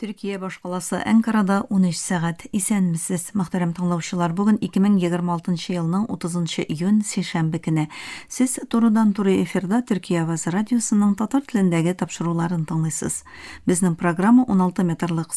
Төркия башкаласы Әнкарада унөч сәгать. Исәнмесез, мөхтәрәм тыңлаучылар! Бүген 2026 елның 30 июнь, сишәмбе көне. Сез турыдан-туры эфирда Төркия авазы радиосының татар телендәге тапшыруларын тыңлыйсыз. Безнең программа 16 метрлык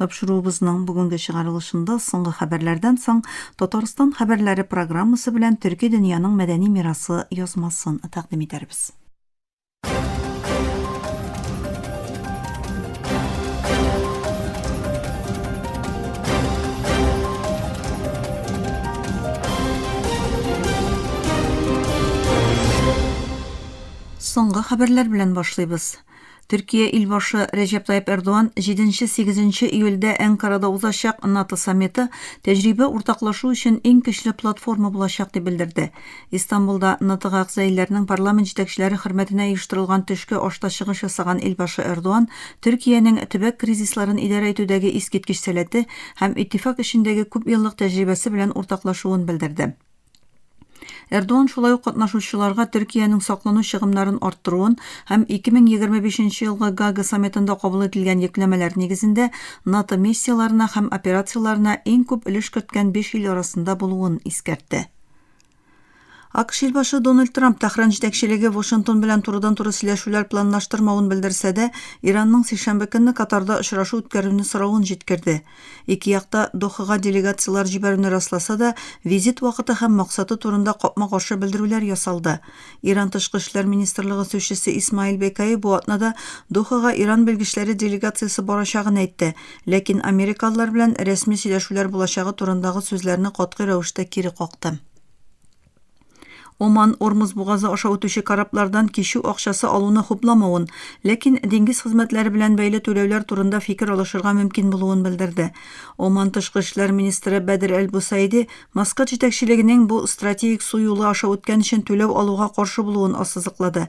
Тапшыруыбызның бүгенге чыгарылышында соңгы хәбәрләрдән соң Татарстан хәбәрләре программасы белән төрки дөньяның мәдәни мирасы язмасын тәкъдим итәрбез. Соңгы хәбәрләр белән башлыйбыз. Төркия илбашы Рәҗәп Тайип Эрдоган 7-8 июльдә Әнкарада узачак НАТО саммиты тәҗрибә уртаклашу өчен иң көчле платформа булачак дип белдерде. Истанбулда НАТОга әгъза илләрнең парламент җитәкчеләре хөрмәтенә оештырылган төшке ашта чыгыш ясаган илбашы Эрдоган Төркиянең төбәк кризисларын идарә итүдәге искиткеч сәләте һәм иттифак эшендәге күпьеллык тәҗрибәсе белән уртаклашуын белдерде. Эрдоган шулай ук катнашучыларга Төркиянең саклану чыгымнарын арттыруын һәм 2025 елгы Гага саммитында кабул ителгән йөкләмәләр нигезендә НАТО миссияләренә һәм операцияләренә иң күп өлеш керткән биш ил арасында булуын искәртте. АКШ илбашы Дональд Трамп Тәһран җитәкчелеге Вашингтон белән турыдан-туры сөйләшүләр планлаштырмавын белдерсә дә, Иранның сишәмбе көнне Катарда очрашу үткәрүне соравын җиткерде. Ике як та Дохага делегацияләр җибәрүне расласа да, визит вакыты һәм максаты турында капма-каршы белдерүләр ясалды. Иран тышкы эшләр министрлыгы сүзчесе Исмаил Бекаи бу атнада Дохага Иран белгечләре делегациясе барачагын әйтте, ләкин америкалылар белән рәсми сөйләшүләр булачагы турындагы сүзләрне катгый рәвештә кире какты. Оман, Ормуз бугазы аша үтүче кораблардан кичү акчасы алуны хупламавын, ләкин диңгез хезмәтләре белән бәйле түләүләр турында фикер алышырга мөмкин булуын белдерде. Оман тышкы эшләр министры Бәдер әл-Бусаиди Маскат җитәкчелегенең бу стратегик су юлы аша үткән өчен түләү алуга каршы булуын ассызыклады.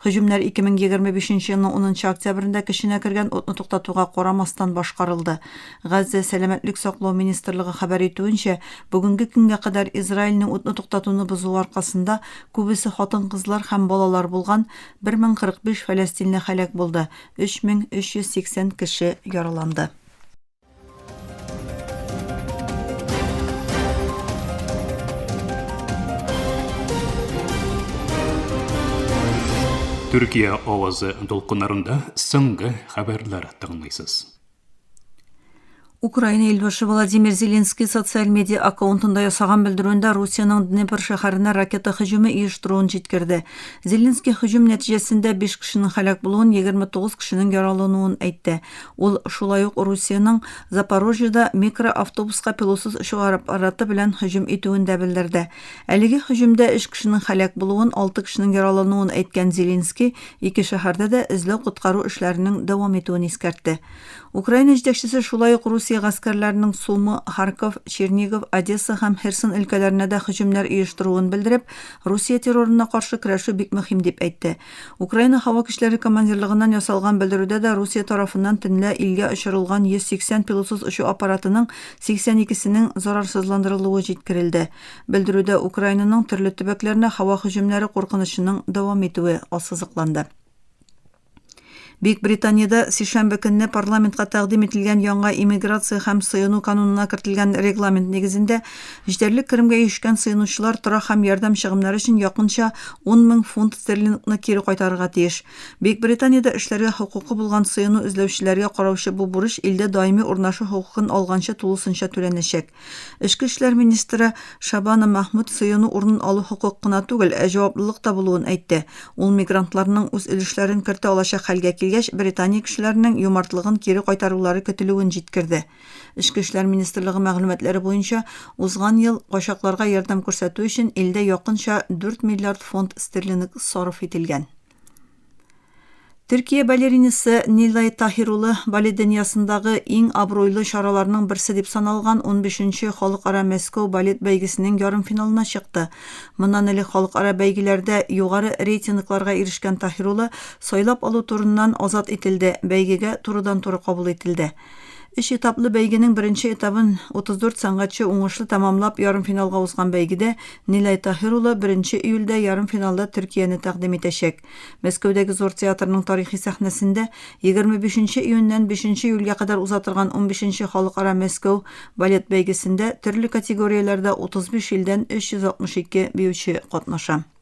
Һөҗүмнәр 2025 елның унынчы октябрендә көченә кергән отны туктатуга карамастан башкарылды. Газзә сәламәтлек саклау министрлыгы хәбәр итүенчә, бүгенге көнгә кадәр Израильнең утны туктатуны бозуы аркасында күбесе хатын-кызлар һәм балалар булган 1045 фәләстинле һәлак булды, 3380 кеше яраланды. Төркия авазы дулкыннарында соңгы хәбәрләр тыңлыйсыз. Украина илбашы Владимир Зеленский социаль медиа аккаунтында ясаган белдерүендә Русиянең Днепр шәһәренә ракета һөҗүме оештыруын җиткерде. Зеленский һөҗүм нәтиҗәсендә 5 кешенең һәлак булуын, 29 кешенең яралануын әйтте. Ул шулай ук Русиянең Запорожьеда микроавтобуска пилотсыз очуга аппараты белән һөҗүм итүен дә белдерде. Әлеге һөҗүмдә өч кешенең һәлак булуын, алты кешенең яралануын әйткән Зеленский ике шәһәрдә дә эзләү-коткару эшләренең дәвам итүен искәртте. Украина җитәкчесе шулай ук Русия гаскәрләренең Сумы, Харьков, Чернигов, Одесса һәм Херсон өлкәләренә дә һөҗүмнәр оештыруын белдереп, Русия террорына каршы көрәшү бик мөһим дип әйтте. Украина һава көчләре командирлыгыннан ясалган белдерүдә дә Русия тарафыннан төнлә илгә очырылган 180 пилотсыз очу аппаратының 82 сенең зарарсызландырылуы җиткерелде. Белдерүдә Украинаның төрле төбәкләренә һава һөҗүмнәре куркынычының дәвам итүе ассызыкланды. Бөекбританиядә сишәмбе көнне парламентка тәкъдим ителгән яңа иммиграция һәм сыену канунына кертелгән регламент нигезендә җитәрлек керемгә ирешкән сыенучылар торак һәм ярдәм чыгымнары өчен якынча ун мең фунт стерлингны кире кайтарырга тиеш. Бөекбританиядә эшләргә хокукы булган сыену эзләүчеләргә караучы бу бурыч илдә даими урнашу хокукын алганчы тулысынча түләнәчәк. Эчке эшләр министры Шабана Махмуд сыену урынын алу хокук кына түгел, ә җаваплылык та булуын әйтте. Ул мигрантларның үз өлешләрен кертә алачак хәлгә килгәч, Британия кешеләренең юмартлыгын кире кайтарулары көтелүен җиткерде. Эчке эшләр министрлыгы мәгълүматлары буенча, узган ел качакларга ярдәм күрсәтү өчен илдә якынча 4 миллиард фунт стерлинг сарыф ителгән. Төркия балеринасы Нилай Таһир улы балет дөньясындагы иң абруйлы чараларның берсе дип саналган 15-нче халыкара Мәскәү балет бәйгесенең ярымфиналына чыкты. Моннан элек халыкара бәйгеләрдә югары рейтингларга ирешкән Таһир улы сайлап алу турыннан азат ителде, бәйгегә турыдан-туры кабул ителде. Өч этаплы бәйгенең беренче этабын 34 сәнгатьче уңышлы тәмамлап, ярымфиналга узган бәйгедә Нилай Таһир улы беренче июльдә ярымфиналда Төркияне тәкъдим итәчәк. Мәскәүдәге Зур театрның тарихи сәхнәсендә 25 нче июньнән 5 нче июльгә кадәр уза торган унбиш нче Халыкара Мәскәү балет бәйгесендә төрле категорияләрдә 35 илдән 362 биюче катнаша.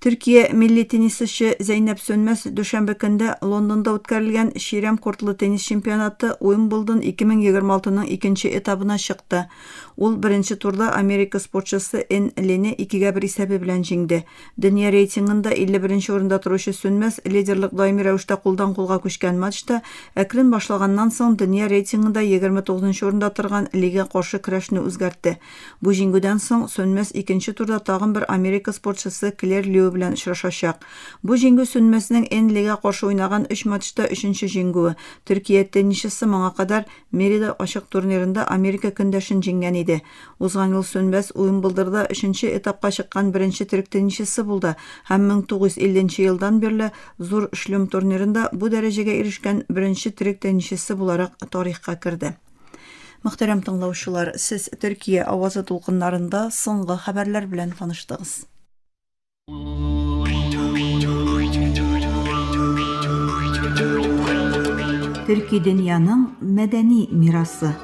Төркия милли теннисчы Зәйнәп Сөнмәс дүшәмбе көнде Лондонда үткәрелгән Чирәм кортлы теннис чемпионаты Уимблдон 2026-ның икенче этабына чыкты. Ул беренче турда Америка спортчысы Эн Лене 2-1 исәбе белән җиңде. Дөнья рейтингында 51 нче урында торучы Сөнмәс лидерлык даими рәвештә кулдан-кулга күчкән матчта әкрен башлаганнан соң дөнья рейтингында 29 нчы урында торган Лига каршы көрәшне үзгәртте. Бу җиңгүдән соң Сөнмәс икенче турда тагын бер Америка спортчысы Клэр Лью белән очрашачак. Бу җиңгү Сөнмәснең Энн Лига каршы уйнаган өч матчта өченче җиңгүе. Төркия теннисчысы моңа кадәр Мерида ачык турнирында Америка көндәшен җиңгән иде. Узган ел Сөнмәс Уимблдорда өченче этапка чыккан беренче төрек теннисчысы булды һәм 1950 нче елдан бирле Зур Шлюм турнирында бу дәрәҗәгә ирешкән беренче төрек теннисчысы буларак тарихка керде. Мөхтәрәм тыңлаучылар, сез Төркия авазы тулкыннарында соңгы хәбәрләр белән таныштыгыз. Төрки дөньяның мәдәни мирасы.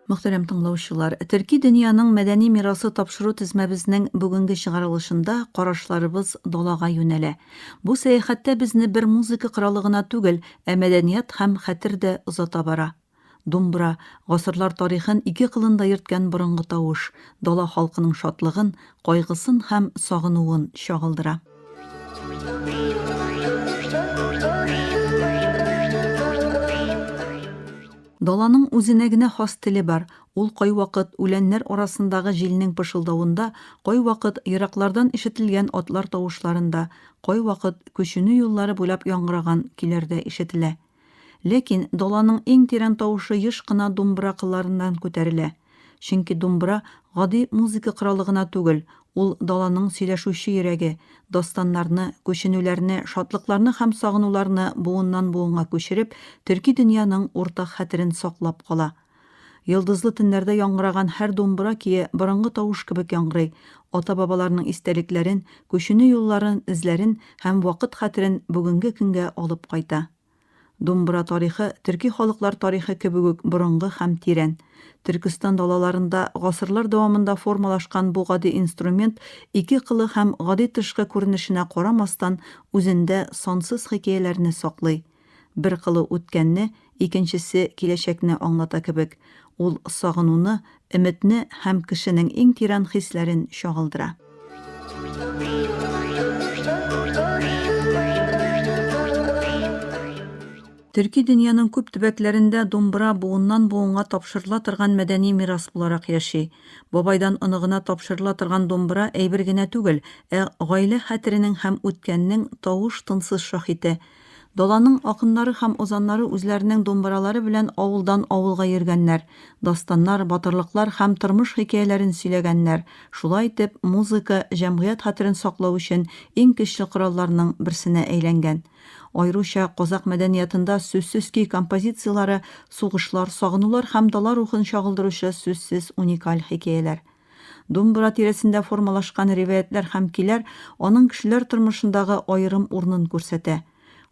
Мөхтәрәм тыңлаучылар, Төрки дөньяның мәдәни мирасы тапшыру тезмәбезнең бүгенге чыгарылышында карашларыбыз далага юнәлә. Бу сәяхәттә безне бер музыка коралы гына түгел, ә мәдәният һәм хәтер дә озата бара. Думбра, гасырлар тарихын ике кылында йөрткән борынгы тавыш, дала халкының шатлыгын, кайгысын һәм сагынуын чагылдыра. Даланың үзенә генә хас теле бар, ул кайвакыт үләннәр арасындагы җилнең пышылдавында, кайвакыт ераклардан ишетелгән атлар тавышларында, кайвакыт күченү юллары буйлап яңгыраган көйләрдә ишетелә. Ләкин даланың иң тирән тавышы еш кына думбра кылларыннан күтәрелә. Чөнки думбра гади музыка коралы гына түгел, ул даланың сөйләшүче йөрәге, дастаннарны, күченүләрне, шатлыкларны һәм сагынуларны буыннан-буынга күчереп, төрки дөньяның уртак хәтерен саклап кала. Йолдызлы төннәрдә яңгыраган һәр думбра көе борынгы тавыш кебек яңгырый, ата-бабаларның истәлекләрен, күченү юлларын, эзләрен һәм вакыт хәтерен бүгенге көнгә алып кайта. Думбра тарихы төрки халыклар тарихы кебек үк борынгы һәм тирән. Төркестан далаларында гасырлар дәвамында формалашкан бу гади инструмент ике кылы һәм гади тышкы күренешенә карамастан үзендә сансыз хикәяләрне саклый. Бер кылу үткәнне, икенчесе киләчәкне аңлата кебек, ул сагынуны, өметне һәм кешенең иң тирән хисләрен чагылдыра. Төрки дөньяның күп төбәкләрендә думбыра буыннан-буынга тапшырыла торган мәдәни мирас буларак яши. Бабайдан оныгына тапшырыла торган думбыра әйбер генә түгел, ә гаилә хәтеренең һәм үткәннең тавыш-тынсыз шаһите. Даланың акыннары һәм озаннары үзләренең думбыралары белән авылдан авылга йөргәннәр, дастаннар, батырлыклар һәм тормыш хикәяләрен сөйләгәннәр, шулай итеп, музыка җәмгыять хәтерен саклау өчен иң көчле коралларның берсенә әйләнгән. Аеруча казакъ мәдәниятында сүзсез көй композицияләре сугышлар, сагынулар һәм дала рухын чагылдыручы сүзсез уникаль хикәяләр. Думбра тирәсендә формалашкан риваятьләр һәм көйләр аның кешеләр тормышындагы аерым урынын күрсәтә.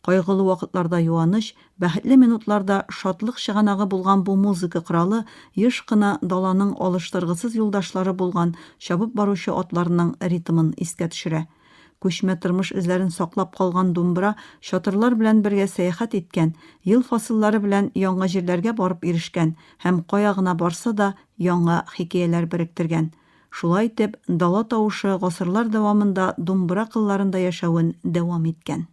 Кайгылы вакытларда юаныч, бәхетле минутларда шатлык чыганагы булган бу музыка коралы еш кына даланың алыштыргысыз юлдашлары булган чабып баручы атларның ритмын искә төшерә. Күчмә тормыш эзләрен саклап калган думбра чатырлар белән бергә сәяхәт иткән, ел фасыллары белән яңа җирләргә барып ирешкән һәм кая гына барса да яңа хикәяләр беректергән. Шулай итеп, дала тавышы гасырлар дәвамында думбра кылларында яшәвен дәвам иткән.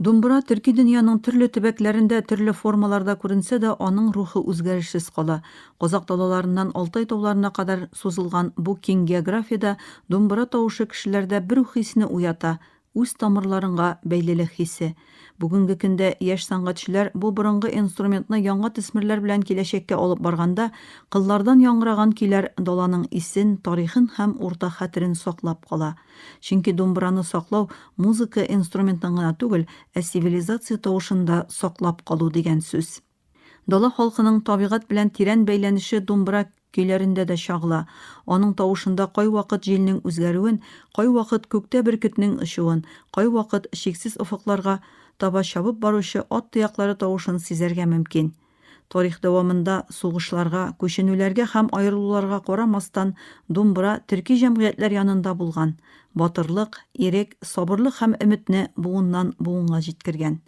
Думбра төрки дөньяның төрле төбәкләрендә, төрле формаларда күренсә дә, аның рухы үзгәрешсез кала. Казакъ далаларыннан Алтай тауларына кадәр сузылган бу киң географиядә думбра тавышы кешеләрдә бер үк хисне уята, үз тамырларыңга бәйлелек хисе. Бүгенге көндә яшь сәнгатьчеләр бу борынгы инструментны яңа төсмерләр белән киләчәккә алып барганда, кыллардан яңгыраган көйләр даланың исен, тарихын һәм уртак хәтерен саклап кала. Чөнки думбраны саклау, музыка инструментын гына түгел, ә цивилизация тавышын да саклап калу дигән сүз. Дала халкының табигать белән тирән бәйләнеше думбра көйләрендә дә чагыла. Аның тавышында кайвакыт җилнең үзгәрүен, кайвакыт күктә бөркетнең очуын, кайвакыт чиксез офыкларга таба чабып баручы ат тояклары тавышын сизәргә мөмкин. Тарих дәвамында, сугышларга, күченүләргә һәм аерылуларга карамастан, думбра төрки җәмгыятьләр янында булган, батырлык, ирек, сабырлык һәм өметне буыннан-буынга җиткергән.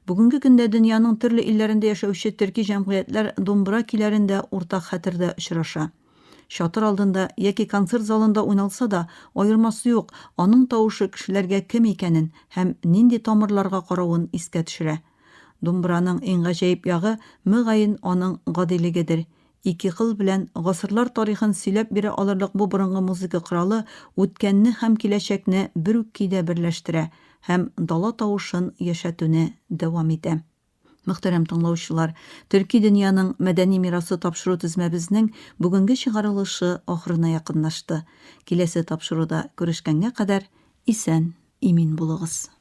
Бүгенге көндә дөньяның төрле илләрендә яшәүче төрки җәмгыятьләр думбра көйләрендә уртак хәтердә очраша. Чатыр алдында яки концерт залында уйналса да, аермасы юк, аның тавышы кешеләргә кем икәнен һәм нинди тамырларга каравын искә төшерә. Думбраның иң гаҗәеп ягы, мөгаен, аның гадилегедер. Ике кыл белән гасырлар тарихын сөйләп бирә алырлык бу борынгы музыка коралы үткәнне һәм киләчәкне бер үк көйдә берләштерә һәм дала тавышын яшәтүне дәвам итә. Мөхтәрәм тыңлаучылар, төрки дөньяның мәдәни мирасы тапшыру тезмәбезнең бүгенге чыгарылышы ахырына якынлашты. Киләсе тапшыруда күрешкәнгә кадәр исән-имин булыгыз.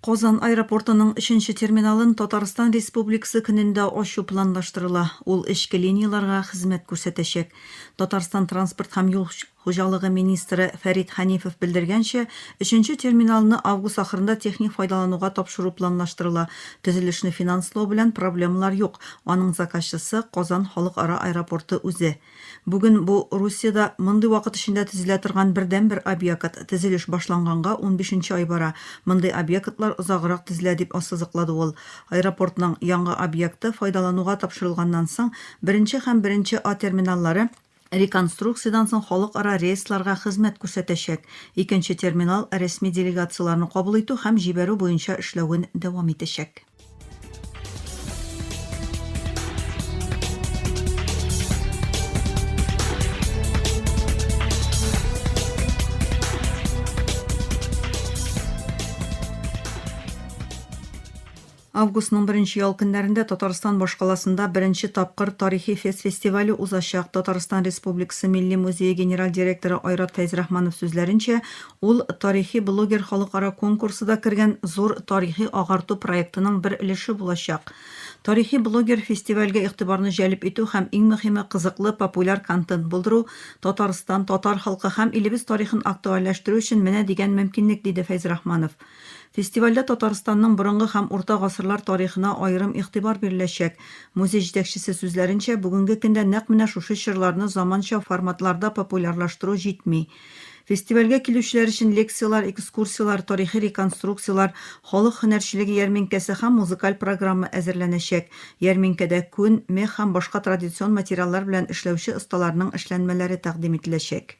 Казан аэропортының өченче терминалын Татарстан Республикасы көнендә ачу планлаштырыла. Ул эчке линияләргә хезмәт күрсәтәчәк. Татарстан транспорт һәм юл хуҗалыгы министры Фәрит Хәнифов белдергәнчә, өченче терминалны август ахырында техник файдалануга тапшыру планлаштырыла. Төзелешне финанслау белән проблемалар юк, аның заказчысы, Казан халыкара аэропорты үзе. Бүген бу Русиядә мондый вакыт эчендә төзелә торган бердәнбер объект. Төзелеш башланганга унбишенче ай бара, мондый объектлар озаграк төзелә, дип ассызыклады ул. Аэропортның яңа объекты файдалануга тапшырылганнан соң, беренче һәм беренче А терминаллары, реконструкциядән соң халыкара рейсларга хезмәт күрсәтәчәк, икенче терминал рәсми делегацияләрне кабул итү һәм җибәрү буенча эшләвен дәвам итәчәк. Августның беренче ял көннәрендә Татарстан башкаласында беренче тапкыр тарихи фест фестивале узачак. Татарстан Республикасы Милли музее генераль директоры Айрат Фәйзрахманов сүзләренчә, Ул тарихи блогер халыкара конкурсы да кергән зур тарихи агарту проектының бер өлеше булачак. Тарихи блогер фестивальгә игътибарны җәлеп итү һәм иң мөхиме кызыклы, популяр контент булдыру, Татарстан, татар халкы һәм илебез тарихын актуальләштерү өчен менә дигән мөмкинлек, диде Фәйзрахманов. Фестивальдә Татарстанның борынгы һәм урта гасырлар тарихына аерым игътибар биреләчәк. Музей җитәкчесе сүзләренчә, бүгенге көндә нәкъ менә шушы чорларны заманча форматларда популярлаштыру җитми. Фестивальгә килүчеләр өчен лекцияләр, экскурсияләр, тарихи реконструкцияләр, халык һөнәрчелеге ярминкәсе һәм музыкаль программа әзерләнәчәк. Ярминкәдә күн, мех һәм башка традицион материаллар белән эшләүче осталарның эшләнмәләре тәкъдим ителәчәк.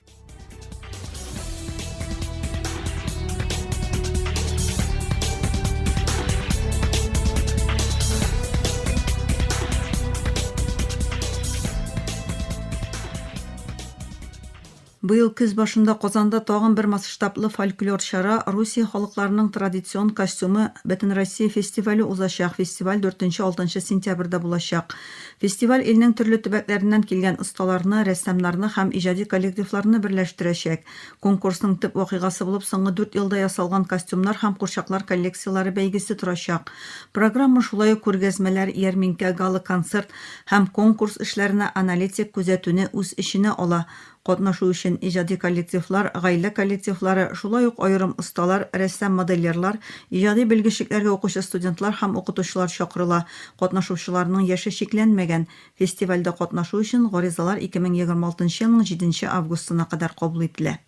Быел көз башында Казанда тагын бер масштаблы фольклор чара, Русия халыкларының традицион костюмы Бөтенроссия фестивале узачак, фестиваль дүртенче-алтынчы сентябрьдә булачак. Фестиваль илнең төрле төбәкләреннән килгән осталарны, рәссамнарны һәм иҗади коллективларны берләштерәчәк. Конкурсның төп вакыйгасы булып соңгы дүрт елда ясалган костюмнар һәм курчаклар коллекцияләре бәйгесе торачак. Программа шулай ук күргәзмәләр, ярминкә, гала-концерт, һәм конкурс эшләренә аналитик күзәтүне үз эченә ала, катнашу өчен иҗади коллективлар, гаилә коллективлары, шулай ук аерым осталар, рәссам-модельерлар, иҗади белгечлекләргә укучы студентлар һәм укытучылар чакырыла, катнашучыларның яше чикләнмәгән. Фестивальдә катнашу өчен гаризалар 2026 елның җиденче августына кадәр кабул ителә.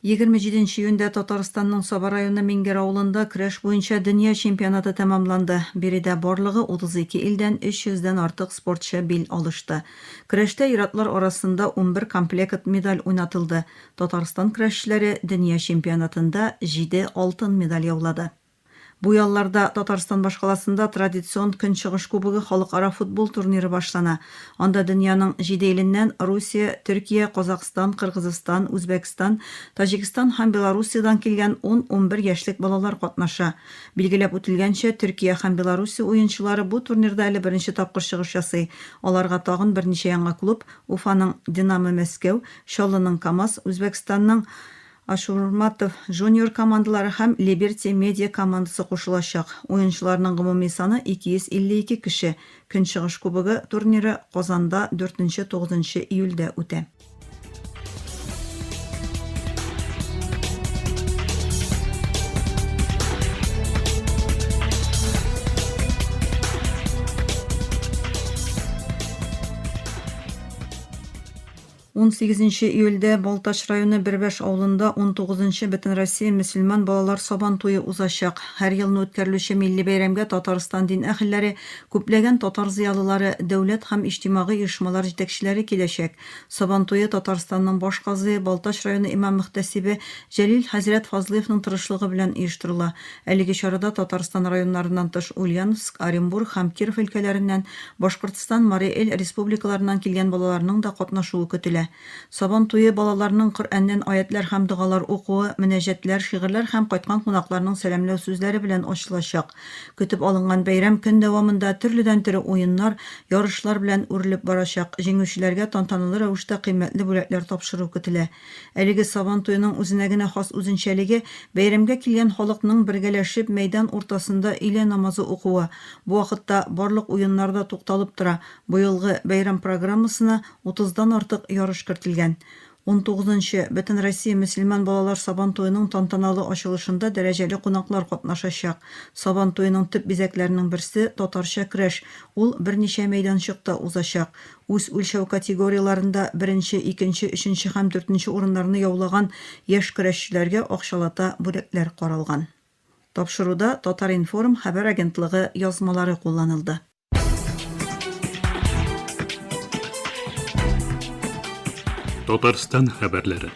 Егерме җиденче июньдә Татарстанның Саба районы Миңгер авылында көрәш буенча дөнья чемпионаты тәмамланды. Биредә барлыгы 32 илдән 300 дән артык спортчы бил алышты. Көрәштә ир-атлар арасында унбер комплекыт медаль уйнатылды. Татарстан көрәшчеләре дөнья чемпионатында җиде алтын медаль яулады. Бу ялларда Татарстан башкаласында традицион Көнчыгыш кубогы халыкара футбол турниры башлана, анда дөньяның җиде иленнән, Русия, Төркия, Казакъстан, Кыргызстан, Үзбәкстан, Таҗикстан һәм Белоруссиядән килгән ун-унбер яшьлек балалар катнаша. Билгеләп үтелгәнчә, Төркия һәм Белоруссия уенчылары бу турнирда әле беренче тапкыр чыгыш ясый, аларга тагын берничә яңа клуб, Уфаның Динамо-Мәскәү, Чаллының КАМАЗ, Үзбәкстанның Ашурматов Junior командалары һәм Либерти Медиа командасы кушылачак. Уенчыларның гомуми саны 252 кеше. Көнчыгыш Кубогы турниры Казанда дүртенче, тугызынчы июльдә үтә. 18 нче июльдә Балтач районы Бербәш авылында 19 нчы Бөтенроссия мөселман балалар Сабан туе узачак. Һәр елны үткәрелүче милли бәйрәмгә Татарстан дин әһелләре, күпләгән татар зыялылары, дәүләт һәм иҗтимагый оешмалар җитәкчеләре киләчәк. Сабан туе Татарстанның баш казые, Балтач районы имам-мөхтәсибе Җәлил хәзрәт Фазлыевның тырышлыгы белән оештырыла. Әлеге чарада Татарстан районнарыннан тыш Ульяновск, Оренбург һәм Киров өлкәләреннән, Башкортстан, Марий Эл республикаларыннан килгән балаларның да катнашуы көтелә. Сабан туе балаларның Коръәннән аятьләр һәм догалар укуы, мөнәҗәтләр, шигырьләр һәм кайткан кунакларның сәламләү сүзләре белән ачылачак. Көтеп алынган бәйрәм көн дәвамында төрледән-төре уеннар, ярышлар белән үрелеп барачак. Җиңүчеләргә тантаналы рәвештә кыйммәтле бүләкләр тапшыру көтелә. Әлеге Сабан туеның үзенә генә хас үзенчәлеге, бәйрәмгә килгән халыкның бергәләшеп мәйдан уртасында өйлә намазы укуы. Бу вакытта барлык уеннар да тукталып тора. Быелгы бәйрәм программасына утыздан артык ярыш кертелгән. Унтугызынчы Бөтенроссия мөселман балалар Сабан туеның тантаналы ачылышында дәрәҗәле кунаклар катнашачак. Сабан туеның төп бизәкләренең берсе, татарча көрәш. Ул берничә мәйданчыкта узачак. Үз үлчәү категорияләрендә беренче, икенче, өченче һәм дүртенче урыннарны яулаган яшь көрәшчеләргә акчалата бүләкләр каралган. Тапшыруда Татар-информ хәбәр агентлыгы язмалары кулланылды. Татарстан хәбәрләре.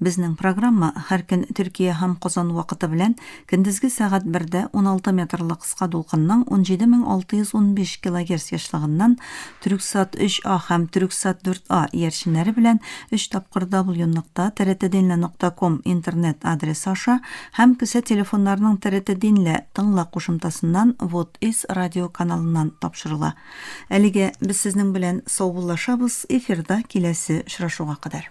Безнең программа һәр көн Төркия һәм Казан вакыты белән көндезге сәгать бердә 16 метрлы кыска дулкынның 17615 килогерц ешлыгыннан Төрексат 3А һәм Төрексат 4А иярченнәре белән өч тапкыр даблюныкта тртдинле нокта ком интернет адресы аша һәм кесә телефоннарының тртдинле тыңла кушымтасыннан вот из радио каналыннан тапшырыла. Әлегә без сезнең белән саубуллашабыз, эфирда киләсе очрашуга кадәр.